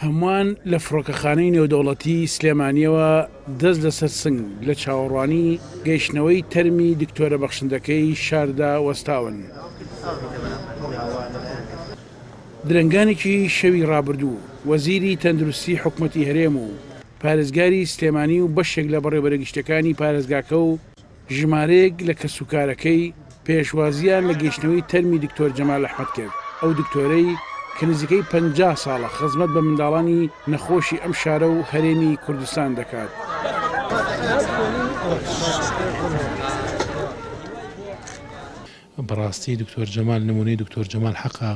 هەمووان لە فڕۆکەخانەی نێودەوڵەتی سلێمانییەوە دەست لەسەر سنگ لە چاوەڕوانی گەیشتنەوەی تەرمی دکتۆرە بەخشندەکەی شاردا وەستاون. درەنگانێکی شەوی ڕابردوو، وەزیری تەندروستی حکومەتی هەرێم و پارێزگاری سلێمانی و بەشێک لە بەڕێوبەرە گشتیەکانی پارێزگاکە و ژمارەیەک لە کەسوکارەکەی پێشوازییان لە گەیشتنەوەی تەرمی دکتۆر جەمال ئەحمەد کرد، ئەو دکتۆرەی کە نزیکەی پەنجا ساڵە خزمەت بە منداڵانی نەخۆشی ئەم شارە و هەرێمی کوردستان دەکات. بەڕاستی دکتۆر جەمال نمونەی دکتۆر جەمال حەقە.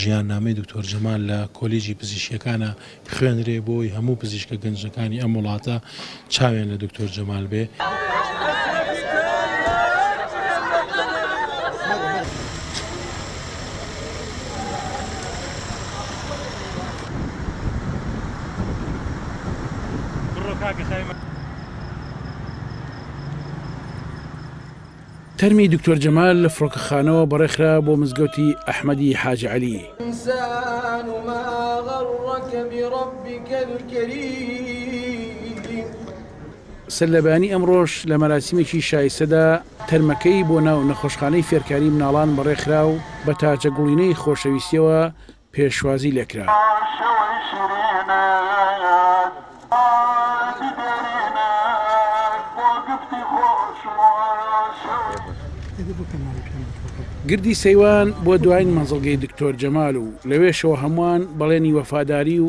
ژیان نامەی دکتۆر جەمال لە کۆلیجی پزیشکیەکانا بخوێنرێ بۆی هەموو پزیشکە گەنجەکانی ئەم وڵاتە چاویان لە دکتۆر جەمال بێ. تەرمی دکتۆر جەمال لە فڕۆکەخانەوە بەڕێخرا بۆ مزگەوتی ئەحمەدی حاجی عەلی. الانسان ما غرک بربک الکریم. سەرلەبەیانی ئەمڕۆش لە مەراسیمێکی شایستەدا تەرمەکەی بۆ ناو نەخۆشخانەی فێرکاری مناڵان بەڕێخرا و بە تاجە گوڵینەی خۆشەویستیەوە پێشوازی لێکرا. گردی سەیوان بۆ دواین مەنزڵگەی دکتۆر جەمال و لەوێشەوە هەمووان بەڵێنی وەفاداری و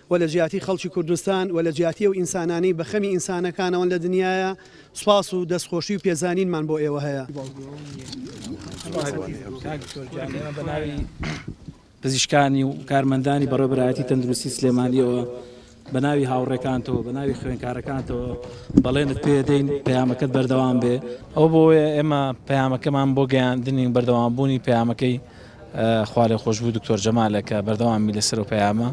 و لە جیاتی خەڵکی کوردستان و لە جیاتی ئەو ئینسانانەی بە خەمی ئینسانەکانەوەن لە دنیایا سوپاس و دەستخۆشی و پێزانینمان بۆ ئێوە هەیە. پزیشکانی و کارمەندانی بەڕێبەرایەتی تەندروستی سلێمانیەوە بەناوی هاوڕێکانتەوە بەناوی خوێنکارەکانتەوە بەڵێنت پێدەین پەیامەکەت بەردەوام بێ ئەو بۆیە ئێمە پەیامەکەمان بۆ گەیاندنی بەردەوامبوونی پەیامەکەی خوالێخۆشبوو دکتۆر جەمالە کە بەردەوام بی لەسەر ئەو پەیامە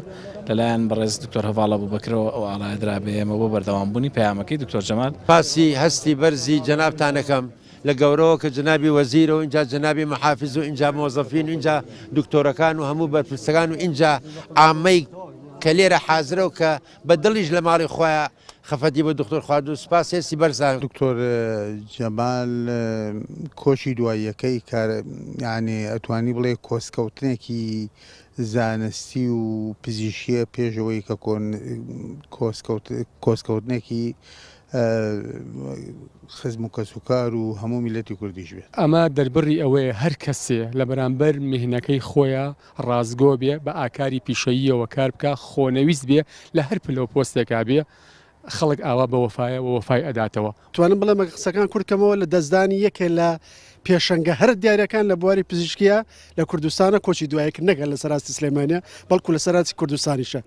لەلایەن بەڕێز دکتۆر هەڤاڵ ئەبوبەکرەوە ئەو ئاڵایە درا بە ئێمە بۆ بەردەوام بوونی پەیامەکەی دکتۆر جەمال. سپاسی هەستی بەرزی جەنابتان ئەکەم لە گەورەوە کە جەنابی وەزیرە و ئینجا جەنابی محافز و ئینجا مۆزەفین و ئینجا دکتۆرەکان و هەموو بەرپرسەکان و ئینجا عامەی کە لێرە حازرە و کە بە دڵیش لە ماڵی خۆیان خەفەتی بۆ دکتۆر خوارد و سپاس هێستی بەرزان. دکتۆر جەمال کۆچی دواییەکەی کار یعنی ئەتوانی بڵێ کۆسکەوتنێکی زانستی و پزیشیە پێشەوەی کە کۆسکەوتنێکی خزم و کەس و کار و هەموو میلەتی کوردیش بێت. ئەمە دەربڕی ئەوەیە هەر کەسێ لە بەرامبەر میهنەکەی خۆیە ڕاستگۆ بێ، بە ئاکاری پیشەییەوە کار بکا، خۆنەویست بێ، لە هەر پلە و پۆستێکا بێ، خەڵک ئاوا بە وەفایە و وەفای ئەداتەوە. توانم بڵێم ئەگەر قسەکان کورت کەمەوە لە دەستدانی یەکێ لە پێشەنگە هەرە دیارەکان لە بواری پزیشکیا لە کوردستانە، کۆچی دوایە کرد نەک هەر لە سەر ئاستی سلێمانیە بەڵکو لە سەر ئاستی کوردستانیشە.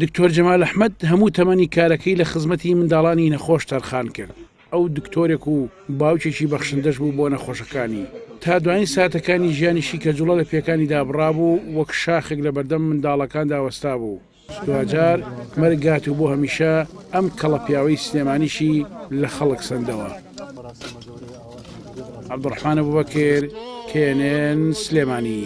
دکتۆر جەمال ئەحمەد هەموو تەمەنی کارەکەی لە خزمەتی منداڵانی نەخۆش تەرخان کرد، ئەو دکتۆرێک و باوکێکی بەخشندەش بوو بۆ نەخۆشەکانی، تا دوایین ساتەکانی ژیانیشی کە جوڵە لە پێکانی دابڕابوو، وەک شاخێک لە بەردەم منداڵەکاندا وەستابوو، دواجار مەرگ هات و بۆ هەمیشە ئەم کەڵە پیاوەی سلێمانیشی لە خەڵک سەندەوە. عەبدولڕەحمان ئەبوبەکر، knn، سلێمانی.